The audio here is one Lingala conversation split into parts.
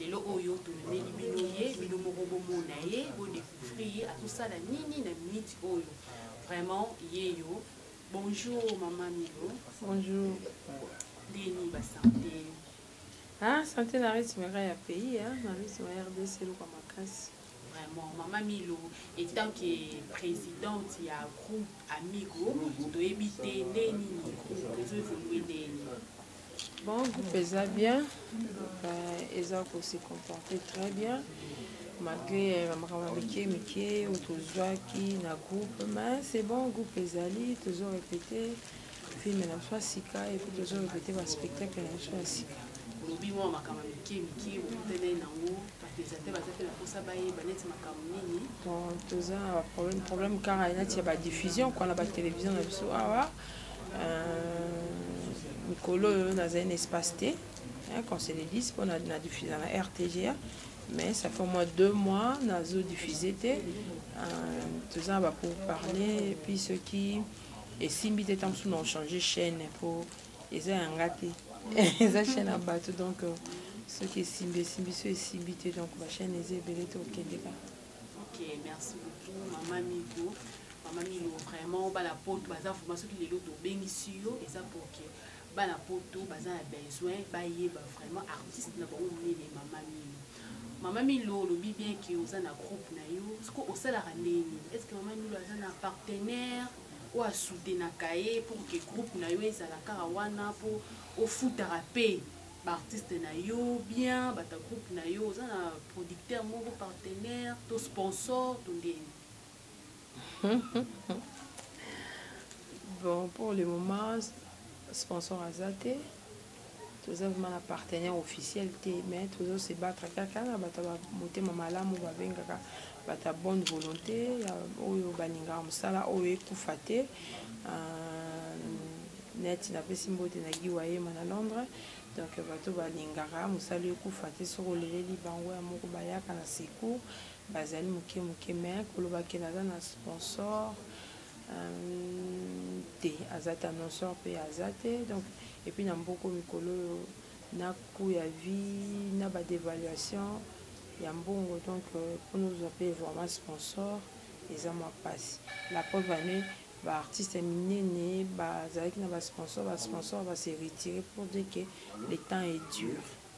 lelo oyo tomemeli bino ye bino moko bomona ye bodécouvrir ye akosala nini na minute oyo vraiment yeyo bonjour mama milo bonjour ndenge nini basante ah, sante na rythme ya pays na rythme ya rdc eloko makasi Vraiment, Mama Milo, etant que presidente ya groupe Amigo, toyebi te nde nini groupe ezo evolue ndeni. Bon, groupe eza bien, euh, eza ko se comporter très bien, malgré euh, makambo mike mike oyo tozwaki na groupe, mais c'est bon, groupe ezali, tozo répéter. filme na biso ya sika epuis tozo repete baspectacle na biso ya sika olobi mwa makambo ya mike mike bokutani nango bapesateur baza mpe na mposa bayeba neti makambo nini bon toza na baproblème problème kaka nati ya badiffusion kua na batelevizio na biso awa euh, mikolo oyo nazali na espace te qu'on se le dise mpo na diffusa na rtga mais ça fait au moins deux mois nazo diffuse te euh, toza na bapour parler epuis soki esimbi te ntango mosusu na ochange chaîne mpo eza ya nga te eza chaîne ya bato donc euh, soki esimbi esimbi so esimbi te donc bachaîne eza ebele te okende kaka ok merci beaucoup mama migo mama milo vraiment bana poto baza vraimen soki lelo tobengisi yo eza porke bana poto baza na besoin bayeba vraiment artiste na bango monene mama milo mama milo olobi bien ke oza na groupe na yo siko osalaka ndenge nini est ce que mama milo aza na partenaire oyo asoutenaka ye pour ke groupe na yo ezala kaka wana mpo ofutaka mpe baartiste na yo bien bata groupe na yo oza na producteur moko partenaire to sponsor to ndenge bon pour le moment sponsor aza te toza vraimen na partenaire officiel te mais tozo se battre kaka na bato ya motema malamu babengaka bato ya bonne volonté ya oyo balingaka mosala oyo ekufa te euh, neti napesi mbote na gi wayema na londres donc bato balingaka mosala ekufa te soki oleleli bango ya moko bayaka na secours Bazali muke muke mais koloba ke naza na sponsor hum, te aza te annonceur pe aza te donc et puis na mboko mikolo oyo na coût ya vie na ba devaluation ya mbongo donc euh, mpo nozwa mpe vraiment sponsor eza mwa mpasi la preuve ane baartiste ya minene bazalaki na basponsor basponsor base retire pour dire que le temps est dur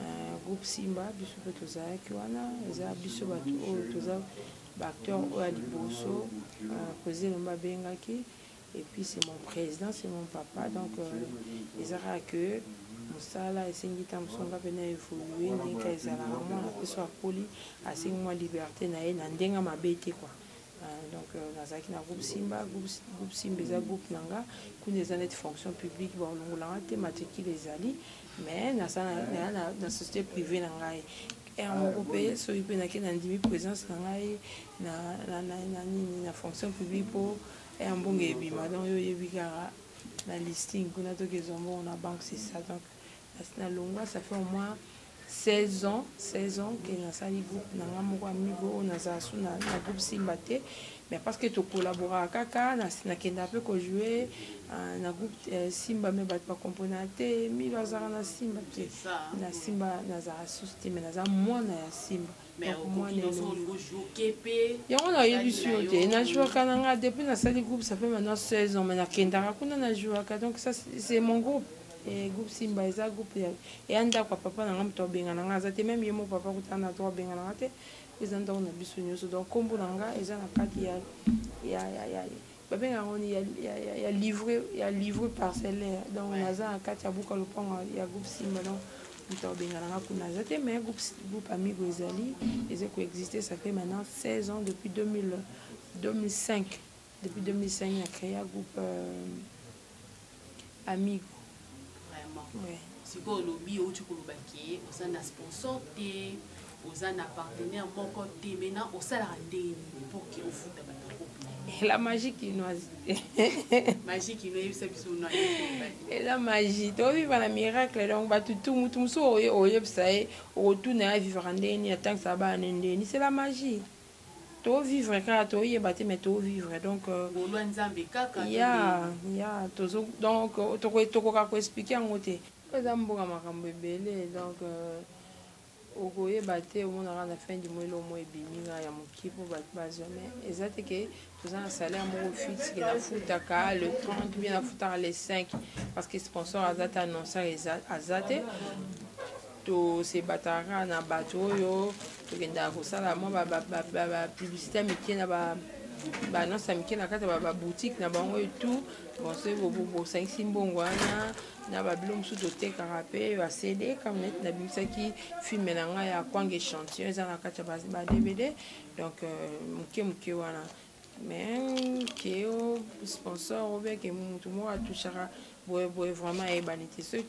euh, groupe simba biso mpe tozalaki wana eza biso bato oyo toza baacteur oyo ya liboso euh, président elomba abengaki et puis c'est mon président c'est mon papa donc euh, eza kaka que mosala esengi ntango mosusu nga mpe na évolue ndenge ezalaka mwana mpe so akoli asengi mwa liberté na ye na ndenge mabe te kua Euh, donc euh, nazalaki na groupe simba groupe simba eza groupe na nga kuna eza neti fonction publique baolongolanga te matricule ezali mais nasala na société privée na ngai heure moko mpe soki mpe nake nandimi présence na ngai na nini na fonction publique mpo heure mbongo ebima donc yo oyebi kaka na listing kuna toki ezwa mbongo na banque c'est ça donc nalongwa ça fait au moins 16 ans 16 ans ke nasali groupe na nga moko amigo oyo nazala su na, na groupe simba te mais parce que tokolaboraka kaka nakendaka mpe kojoue uh, na groupe uh, simba me bato bakomprenaka te milo azalaka na simba te na simba nazalaka susu te mais naza mwana ya simba yango nayebisi yo te najouaka na nga depuis nasali groupe ça fait maintenant 16 ans mais nakendaka kuna najouaka donc ça c'est mon groupe eh, groupe simba eza groupe eya ndako ya papa na nga moto abengana nga aza te meme ye mo papa kutana na to abengana nga te eza ndako na biso nyonso donc nkombo na nga eza na kati ya, ya, ya, ya, ya babenga yango ni ya, ya, ya, ya livre ya livre parcellaire donc ouais. naza na kati ya buka lopango ya groupe simba donc moto abengana nga kuna aza te mais groupe, groupe amigo ezali eza koexiste ça fait maintenant 16 ans depuis 2000, 2005 depuis 2005 na créa groupe euh, amigo vraiment ouais. sikoyo olobi outi koloba ke oza na sponsor te oza na partenaire moko te maintenant osalaka ndenge nini mpo ke ofuta bato la magie kinoise magie kino oyebisa biso no eza magie toviva na miracle donc bato tu motu mosusu oyebisa ye okotuna ye avivaka ndenge nini atangisa bana ndenge nini c'est la magie to vivre kaka to yeba te mais to vivre donc euh, ngolwa nzambe kaka ya ya tozo donc euh, toko tokoka ko expliquer yango te eza mboka makambo ebele donc euh, okoyeba te omonaka na fin du mois elo mo ebimi nga ya moki po bato bazwa mais eza te ke toza na salaire moko fixe ke nafutaka le 30 bien nafutaka le 5 parce que sponsor aza te annoncer aza te tosebataka kaka na bato oyo tokendaka kosala mwa bapublicité ya mike na baannonce ya mike na kati ya baboutique na bango etout bonso bosangisi mbongo wana na babilo mosusu totekaka mpe basede kama neti nabimisaki filme na ngai ya kwange chantion eza na kati ya badvd donc euh, moke moke wana mais ke o sponsor obeke motu moko atouchaka boyeboye vraiment ayebani te soki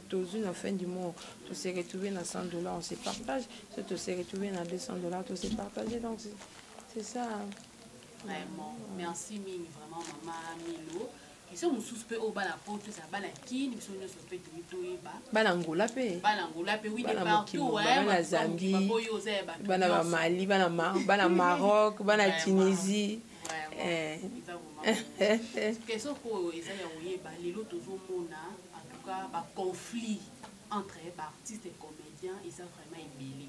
tozwi na fin du mois tose retrouve na 100 dollar on se partage soki tose retrouve na 200 dollar tose partage donc c'est ça vraiment merci mingi vraiment mama milo Biso mosusu pe oyo bana poto eza bana kin biso nyonso pe toyi toyeba. Bana Angola pe. Bana Angola pe oui de partout ouais. Bana Zambie. Bana ba Mali, bana Mar bana Maroc, bana Tunisie. Eh. Question oyo eza ya koyeba lelo tozomona en tout cas ba conflit entre ba artistes et comédiens eza vraiment ebele.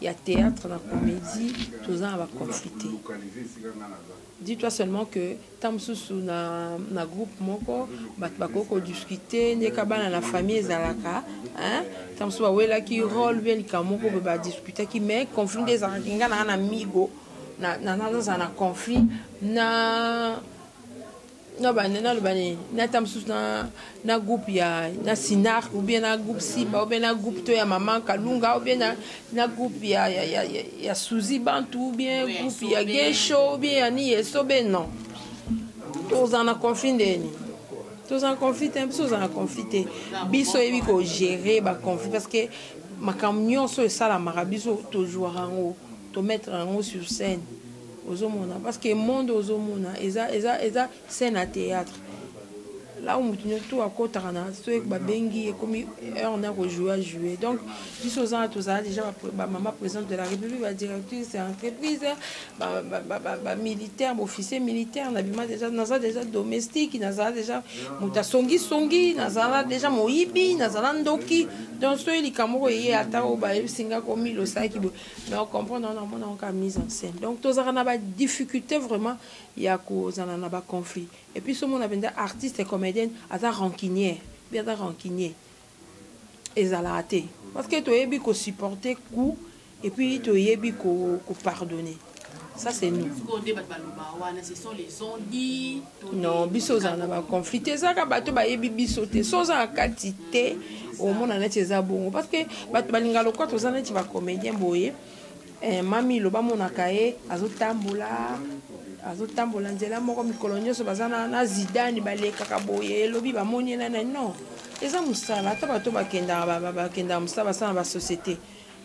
ya théâtre na comédie toza na baconflit te dis toi seulement que ntango mosusu na, na groupe moko bato bakoki kodiscute ndeka bana na famille ezalaka ntango mosusu bawelaki role bie likambo moko boye badiskutaki mais conflit nde ezalaki ngai naa na migo nazala na conflit na na banda naloba nini nata mosusu na, na groupe ya na sinar ou bien na groupe simba ou bien na groupe to ya maman kalunga ou bien na, na groupe ya, ya, ya, ya, ya suzi bantu ou bien oui, groupe ya gesho ou bien ya ni esobe non tozala na conflit nde nini tozala na conflit te biso tozala na conflit te biso oyebi kogere baconflit parce que makambo nyonso esalamaka biso tozwaka yango tomettre yango sur scène ozomona parce que monde ozomona eza eza eza scène à théâtre là où mutu nyoso tout akotaka na so babengi ekomi heure na kojoue a joue donc biso ozana tozala déjà bamama présidente de la république badirectrice ya entreprise bamilitaire baofficier militaire nabima déjà naza déjà domestique nazala déjà moto asongisongi nazala déjà moyibi nazala ndoki donc soki likambo oko eye ata oyo bayebisinga komi losaki boye mais au comprendre wana omona yango kaka mise en scène donc tozalaka na badifficulté vraiment ya kozala na baconflit et puis somona mpenza artiste comédienne aza rancunière bi aza rancunier ezalaka te parce que toyebi kosupporte coup et puis toyebi kopardonner ko ça c'est nous non biso ozala na baconflit te ezalaka bato bayebi biso te so oza na kati te omona neti eza bongo parce que bato balinga lokola toza neti bacomédien boye eh, mami loba monaka ye azotambola azotambola nzela moko mikolo nyonso baza na, na zidani balekaka boye elobi bamoni ye nani non eza mosala ata bato bakendaka bakendaka mosala basala na basociété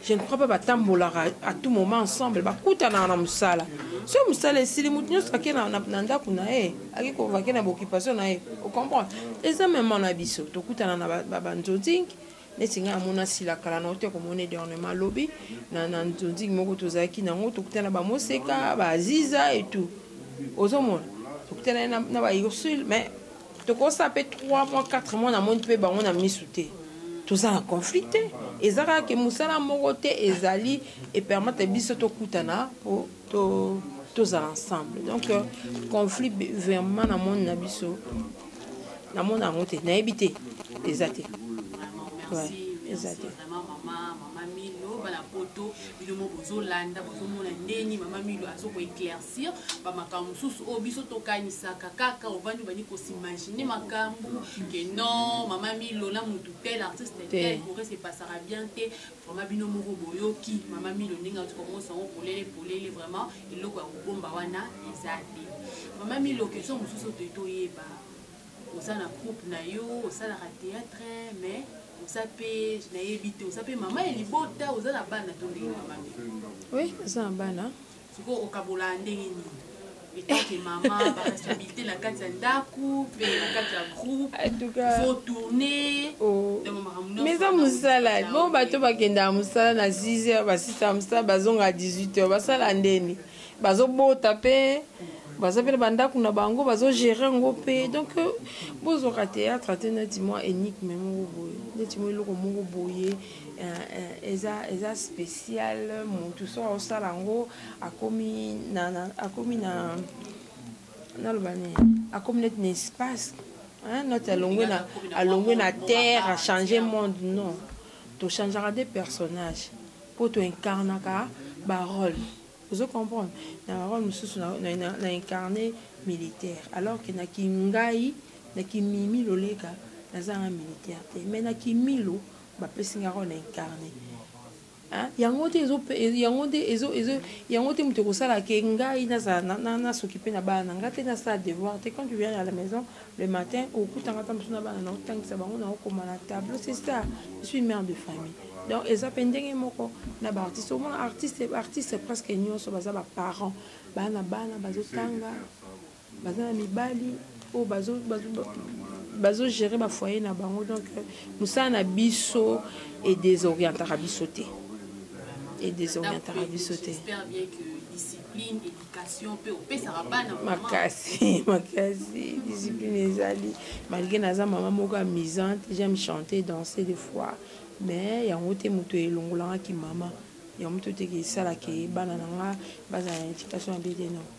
je ne crois pas batambolaka à tout moment ensemble bakutanaka na mosala soki mosala esili moto nyonso ake na ndako na ye ake kovake na baoccupation na ye ocomprendre eza mema na biso tokutana na banzonzingi neti ngai amona sila kala na ote komona edernement lobi na nzonzingi moko tozalaki nango tokutana bamoseka baaziza etout ozomona tokutana na baursule mais tokosa pe 3 mois 4 mois namoni pe bango na misu te toza na conflit te eza kaka ke mosala moko te ezali epermete biso tokutana po to tozala ensemble donc euh, conflit vraiment na moni na biso namona yango te nayebi te eza te ouais, eza te sur ba makambo mosusu oyo biso tokanisaka kaka ovandi obandi kosimagine makambo ke non mama milo na motu tel artiste tel kore se passaka bien te vraiment bino moko boyoki mama milo ndenge ati komonisa yango polele polele vraiment eloko ya kobomba wana eza te mama milo question mosusu te toyeba oza na groupe na yo osalaka théâtre mais oza mpe nayebi te oza mpe mama ya libota oza na bana to ndenge mama milo oui oza na bana sikoyo okabola ndenge nini etanke mama baresponsabilité na kati ya ndako mpe na kati ya groupe faut tourner oh. mais eza mosala bon bato bakendaka mosala na 6 heures basisa mosala bazonga 18 heures basala ndeni bazobota mpe baza mpe na bandako na bango bazogere yango mpe donc euh, bozwaka théâtre te neti mwa énigme moko boye neti mwa eloko moko boye eza eza spécial mutu so osala yango akomi na akomi na naloba nini akomi neti na espace noti alongwe na alongwe na terre achange monde non tochangeaka de personnage mpo toincarnaka barole ozo comprendre na barole mosusu na incarne militaire alors ke na kingai na kimimi loleka nazanga militaire te mais na kimilo bapesi nga role na incarne hein? yango te ezo yango te ezo ezo yango te moto ekosala ke ngai nazala nasokipe na bana na ngai te nasala devoir te quand tu viens à la maison le matin okutanga mpe mosu na bana na otangisa bango na okoma na tableau c'est ça je suis mère de famille donc eza mpe ndenge moko na baartiste omona artiste artiste presque nyonso baza baparent bana bana bazotanga baza na mibali oyo bazo, bazo, bazo gérer ba foyer na bango donc euh, mosala na biso e desorientaka biso te e desorientaka biso te makasi makasi discipline ezali malgré naza mama moko amusante j'aime chanter danser des fois mais yango te moto elongolangaki mama yango moto te esalaka bana na nga bazala na éducation ya bete non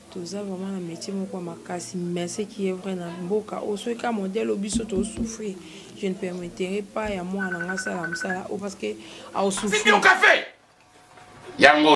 toza vraiment na métier moko ya makasi mais ce qui est vrai na mboka oyo soki kaka modèle oyo biso tosouffrir je ne permetterai pas ya mwana nga asala mosala oyo parce que aosouffrir yango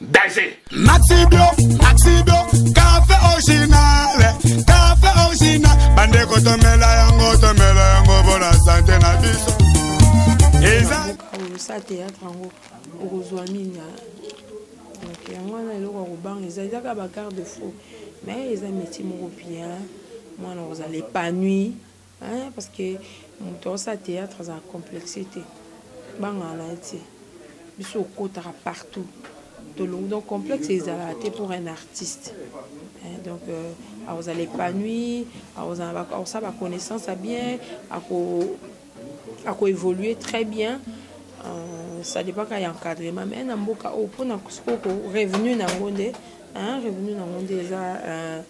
danger maxi bio maxi bio café original café original bandeko tomela yango tomela yango mpo na sante na biso eza sa théâtre yango okozwa nini donc yango wana eloko ya kobanga eza eza kaka bagarde faux mais eza métier moko bien mwana kozala épanouie Hein, parce que moto aosala théâtre azala complexe te bangana na ye te biso okotaka partout tolongi donc complexe ezalaka te pour un artiste hein, donc euh, akozala épanoui akosala baconnaissance ya bien akoévolue très bien euh, ça dépend kaka ya encadrement mais na mboka oyo mpona sikoyo revenu na yango nde revenu na yango nde eza euh,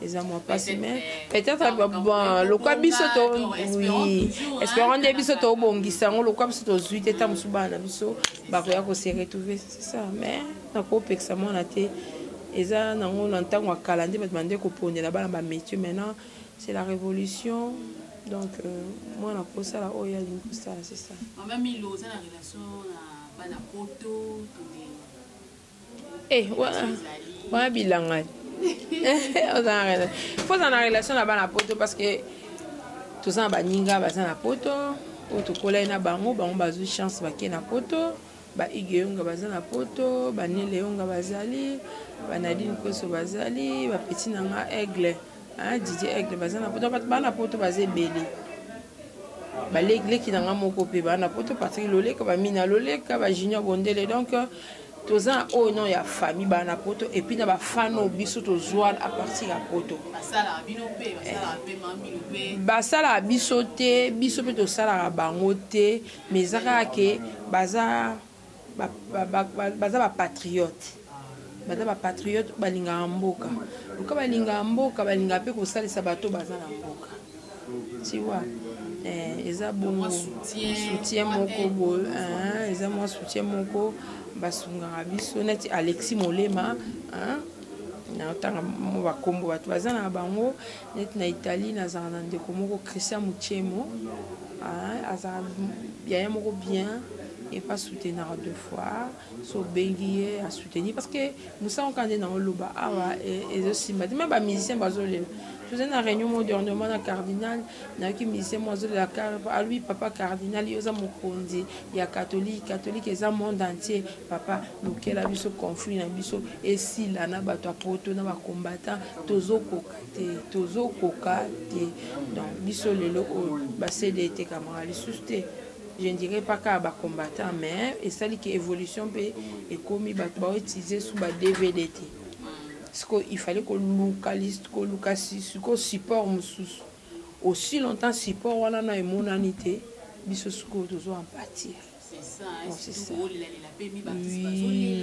eza mwa mpasi mais peut-être bon lokwa biso to oui espérant nde biso tobongisa yango lokwa biso tozwi te ntango mosusu bana na biso bakoya kose retrouver c'est ça mais nakopekisa mwana te eza nango na ntango ya kala nde bato bande kopondela bana bamétier maintenant c'est la révolution donc euh, mwana akosala oyo alingi kosala c'est ça mama milo oza na relation na bana poto Eh, wana bilanga foza na relation na bana poto parce que toza na baninga baza na poto oyo tokolai na bango bango bazwi chance bake na poto baige yonga baza na poto banele yonga bazali banadine koso bazali bapeti na nga aigle ah didi aigle baza na poto bato baa na poto baza ebele baleki na ngai moko mpe baa na poto patrik loleka bamina loleka bajunior bondele donc toza oyo non ya famille baa na poto epuis na bafan oyo biso tozwana a partir ya poto basalaka biso te biso mpe tosalaka bango te mais eza kaka ke baza baza bapatriote baza bapatriote balingaka mboka loka balingaka mboka balingaka mpe kosalisa bato baza na mboka tiwa eh, eza bongo soutien moko boye eh, eza mwa soutien moko basungaka biso neti alexi molema eh, naotanga mo bakombo bato baza na bango neti na italie nazala na ndeko moko christian muchemo ah, azala yaya moko bien epa soutenaka de fois so obengi ye asoutenir parce que mosala oka nde na oloba awa ezosimba te me bamusicien bazolela tozali na réunion mo dernièrement na cardinal nayoki musicien mo azolela alobi papa cardinal yo oza mokonzi ya katholike katholike eza monde entier papa lukela biso conflit na biso esila na bato ya poto na bacombattant tozokoka te tozokoka te donc biso lelo oyo basede etekamaka lisusu te je ne dirais pas kaka bacombattant mais esali ke évolution mpe ekomi bato baoutilize su ba dvd te siko il fallait koluka koluka siko support mosusu aussi longtemps support wana na emonani te biso sikoyo tozo empatir c'est ça, hein, bon, c'est ça. Oui.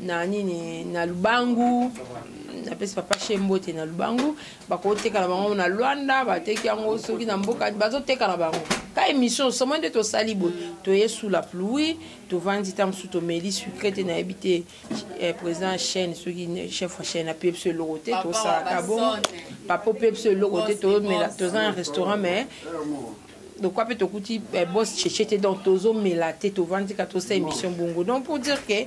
na nini na lubangu napesi papa she mbote na lubangu bakotekala bango na lwanda bateki yango soki na mboka bazotekala bango ka émission somo nde tosali boye toye sous la pluie tovandi ntango mosusu tomeli sucre te nayebi te eh, président chaine soki chef ya chaine apebi biso eloko te tosalaka bongo papa opebi biso eloko te tozomela toza na restaurant mais donc ape tokuti eh, boss cheche te donc tozomela te tovandi ka tosa émission bongo donc pour dire que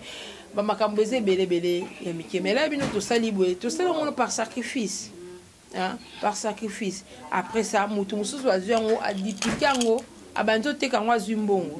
bamakambo eza ebelebele ya mike mais la bino tosali boye tosali yango par sacrifice hein? par sacrifice après ça motu mosusu azwi yango adiplike yango abandi oteka yango azwi mbongo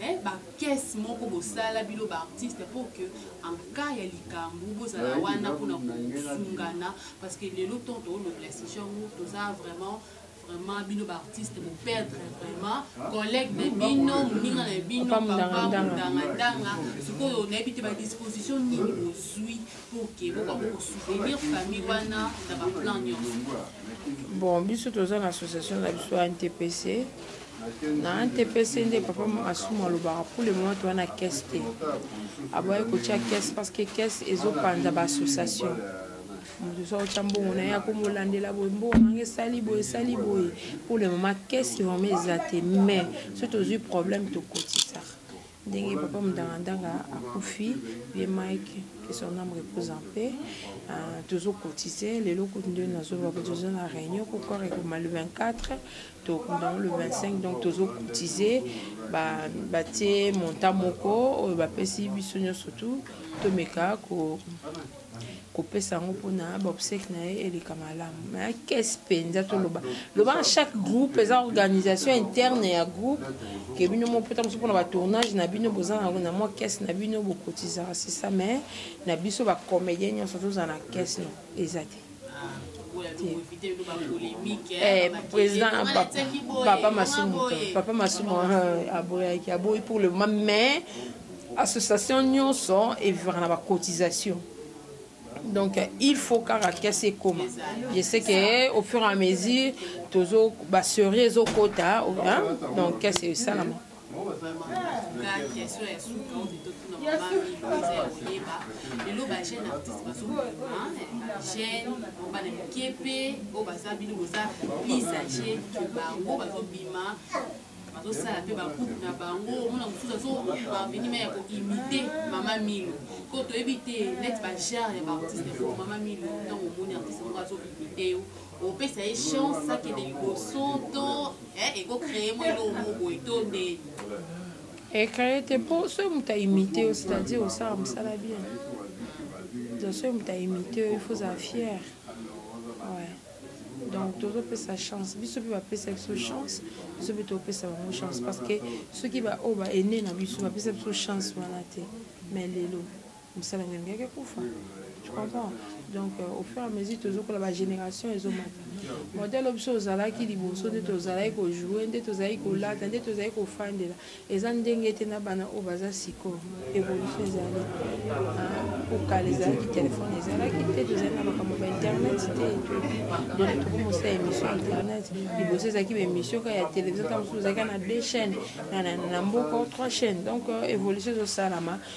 eh, ba caisse moko bosala bino ba artiste pour que en cas ya likambo bozala wana mpona kosungana parce que lelo temps toolobela sujet yango toza vraiment vraiment bino ba artiste boperdre vraiment collègue na bino moninga na bino papa mondangadanga sikoyo nayebi te badisposition nini bozwi pour ke bokoki kosoutenir famille wana na baplan nyonso bon biso toza na association na biso ya ntpc na ntps nde papa asumu alobaka pour le moment toza na caisse te aboyaki kotya caisse parce que caisse ezopanza baassociation moto soki otya mbongo na ye akomolandela boye mbongo nanga esali boye esali boye pour le moment caisse vraiment eza te mais soki tozwi problème tokotisaka ndenge papa mudangandanga akufi vieux mike que son ame repose en paix euh, tozo cotiser lelo kutu nde nazoloba ko toza na réunion ko corps ekoma le 24 tokunda le 25 donc tozo cotiser batie montant moko oyo bapesi biso nyonso tout tomeka ko kopesa yango mpona baobsèque na ye eleka malamu ma ya kese mpenza toloba loba na chaque groupe eza organisation interne ya groupe ke bino mo mpota mosusu mpona batournage na bino boza na mwa kese na bino bokotizaka sisa mais na biso bacomédien nyonso tozala na kese no eza te Eh, président papa masumu papa masumu euh, aboyaki aboyi pour le moment mais association nyonso evivaka na bacotisation donc il faut kaka kese ekoma je sais que au fur et à mesure tozo baserie ezokota donc kese esalama nga question ya suka oyo totuna mama milo eza ya koyeba lelo ba jeune artiste bazobima jeune bana mike mpe oyo baza bino boza plus age ke bango bazobima bazosala mpe bagroupe na bango omona mosusu azobaveni me ya koimite mama milo ko toyebi te neti bagere ya baartiste mama milo ntango omoni artiste moko azoimite yo opesa ye chance akende liboso to eh, ekocree mwa eloko moko boye to ndeni ecree te mpo soki moto aimite yo c'est-à-dire osala mosala bien donc soki moto aimite yo il faut ozala fier ouais. donc tozopesa chance biso mpe bapesa biso chance biso mpe topesa bango chance parce que soki baoyo baene na biso bapesa biso chance wana te mais lelo mosala yango elingaki ekufa tu comprends donc euh, au fur et à mesure tozokola bagénération ezomata modèle biso ozalaki liboso nde tozalaki kojoue nde tozalaki kolata nde tozalaki kofandela eza ndenge te na bana oyo baza sikoyo évolution ezali kokala ezalaki telefone ezalaki te tozali na makambo ba internet te donc tokomosala émission internet liboso ezalaki baémission ka ya télévision ntango mosusu ozalaki na deux chaîne na mboka trois chaîne donc euh, évolution ezosalama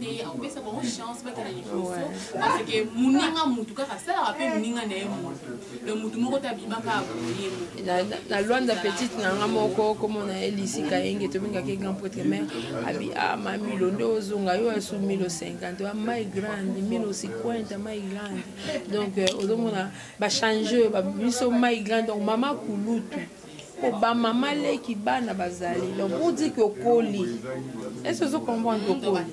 te akopesa bango chance bakende liboso parce que moninga motu kaka asalaka mpe moninga na ye motu le motu moko te abimaka aboye na lwanda petite na nga moko komona ye lisika yenge tobengaka ye grand pretre mare abi ama ah, milo nde ozonga yo asu milo 50 wa mai grande milo 50 mai grande donc euh, ozomona bachange oyo babiso mai grande donc mama kulutu po ba mama leki bana bazali donc pour dire que okoli est-ce ozo comprendre que okoli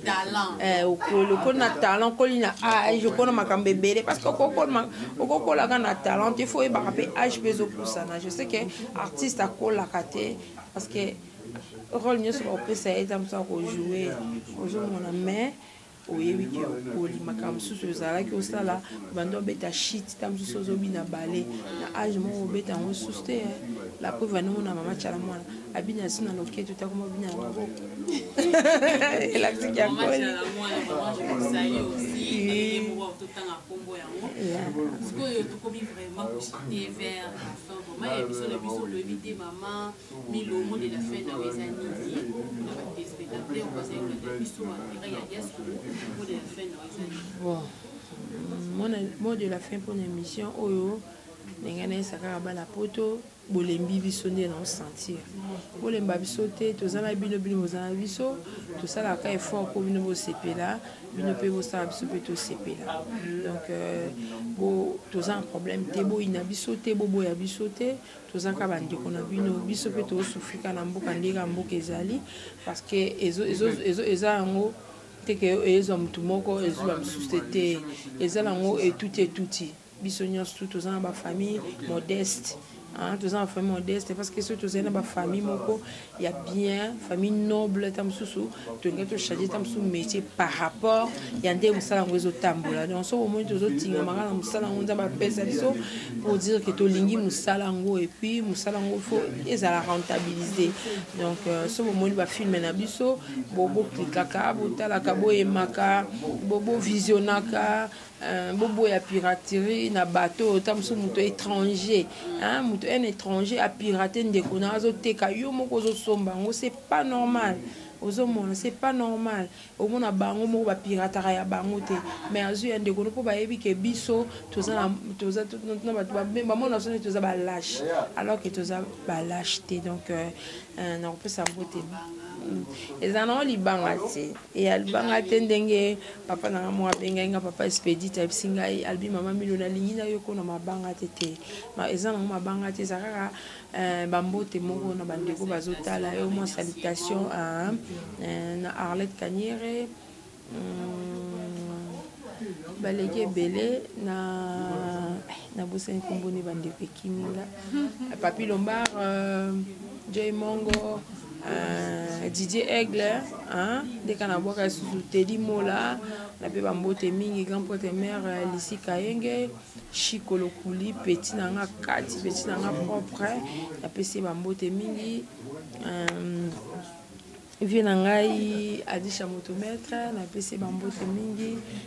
eh okoli okoli na talent okoli na âge okoli na makambo ebele parce que okokola okokolaka na talent te faut oyebaka mpe âge mpe ezopusana je sais que artiste akolaka te parce que rôle nyonso bakopesa ye eza mosu akojoue ozomona mais oyebi ke okoli makambo mosusu ozalaki osala banda obeta shit ta mosusu ozobina bale na age moko obeta yango susu te eh. la preuve anongo na mama cala mwana abina su na loketu takoma obina na maboko elakisiki ya koli sikoyo tokomi vraiment koshite vers la fin mama ya biso na biso toyebi te mama Milo omoni la fin na yo eza nini na ba téléspectateurs bazali kolanda biso ba terrain ya diaspora mpo de la fin na yo eza nini bon mona mot de la fin mpo na émission oyo ndenge nayesa kaka bana poto bolembi biso nde na osentir bolemba biso te toza na bino bino boza na biso tosalaka effort mpo bino bosepela bino mpe bosala biso mpe tosepela donc euh, toza na problème te boyina biso te boboya biso te toza kaka bandeko na bino biso mpe tosufrika na mboka ndenge ya mboka ezali parce que eza yango teke ezwa motu moko ezwa mosusu te te eza nango etuti etuti biso nyonso tu toza na bafamille modeste toza na famille modeste parce que soki tozali na bafamille moko ya bien famille noble ta mosusu tolingi tochange ta mosusu métier par rapport ya nde mosala yango ezotambola donc soki omoni tozotingamaka na mosala yango nzambe apesa biso pour dire ke tolingi mosala yango epuis mosala yango fo ezala rentabilise donc euh, soki omoni bafilme na biso boklikaka botalaka boyemaka bovisionaka Euh, boboya piraterie na bato oyo ta mosusu moto étranger moto un étranger apirate ndeko na azoteka yo moko ozosomba yango c'est pas normal ozomona c'est pas normal omona bango moko bapirataka ya bango te mais azwi ya ndeko no mpo bayebi ke biso bamona biso nde toza balache alors ke toza balache te donc euh, euh, nakopesa yango te mm. ezala nango libanga te e aluba nga te ndenge papa na nga moko abengai nga papa expedite ayebisi ngai alobi mama milo nalingi na yo kona mabanga te te eza nango mabanga te eza kaka eh, bambote moko na bandeko bazotala yo mwa salutation ah, eh, na arlette kaniere hmm, baleki ebele na nabosani nkombo ne bandeko ekimi nga papi lombar euh, joy mongo Uh, Didier Aigle uh, nde kana bwaka lisusu Teddy Mola na mpe bambote mingi grand prêtre mère euh, Lisi Kayenge Chico Lokuli petit na nga kati petit na nga propre napesi ye bambote mingi um, vie na ngai Adisha Moto Maître napesi ye bambote mingi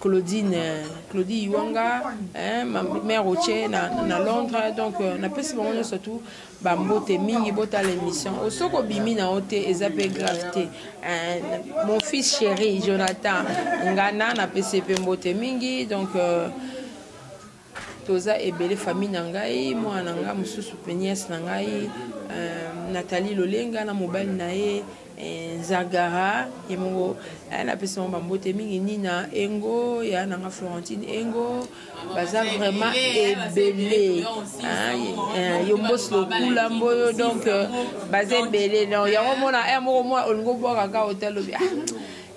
Claudine euh, Claudie Iwanga hein, ma mère Rocher na, na Londres donc euh, napesi bango nyonso surtout bambote mingi botala émission osoki obimi na yo te eza mpe grave te hein, mon fils chéri Jonathan Ngana napesi mpe mbote mingi donc euh, toza ebele famille na ngai mwana na ngai mosusu mpe nièce na ngai euh, nathalie lolenga na mobali na ye eh, zagara ye moko eh, napesi bango bambote mingi nina engo ya nanga florentine engo baza vraiment ebele ah, eh, yo mbosi lokula mboyo donc euh, baza ebele yango mona moko mwa olingi obwaka ka otalobi ah,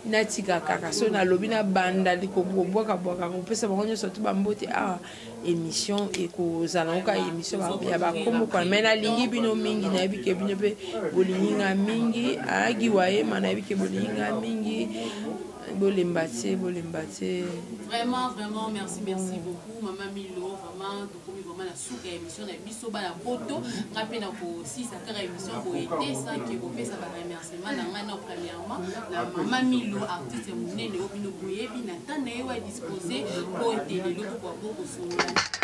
natika kaka so nalobi na banda likobwaka bwaka kopesa bango nyonso to bambote awa ah, émission ekozala yango kaka émission ya bakombo kwa mai nalingi bino mingi nayebi ke bino mpe bolingi nga mingi ayagi ah, wayema nayebi ke bolingi nga mingi bolemba te bolemba te vraiment vraiment merci merci beaucoup mama milo vraiment okomi vraiment na suka ya émission na biso bana poto nga mpe nakosilisa kaka émission boye te sanke kopesa baremerciement na ngai na premièrement na mama milo artiste monene oyo bino boyebi na ntan na ye wa dispose mpo ete lelo tokoka mpo kosolola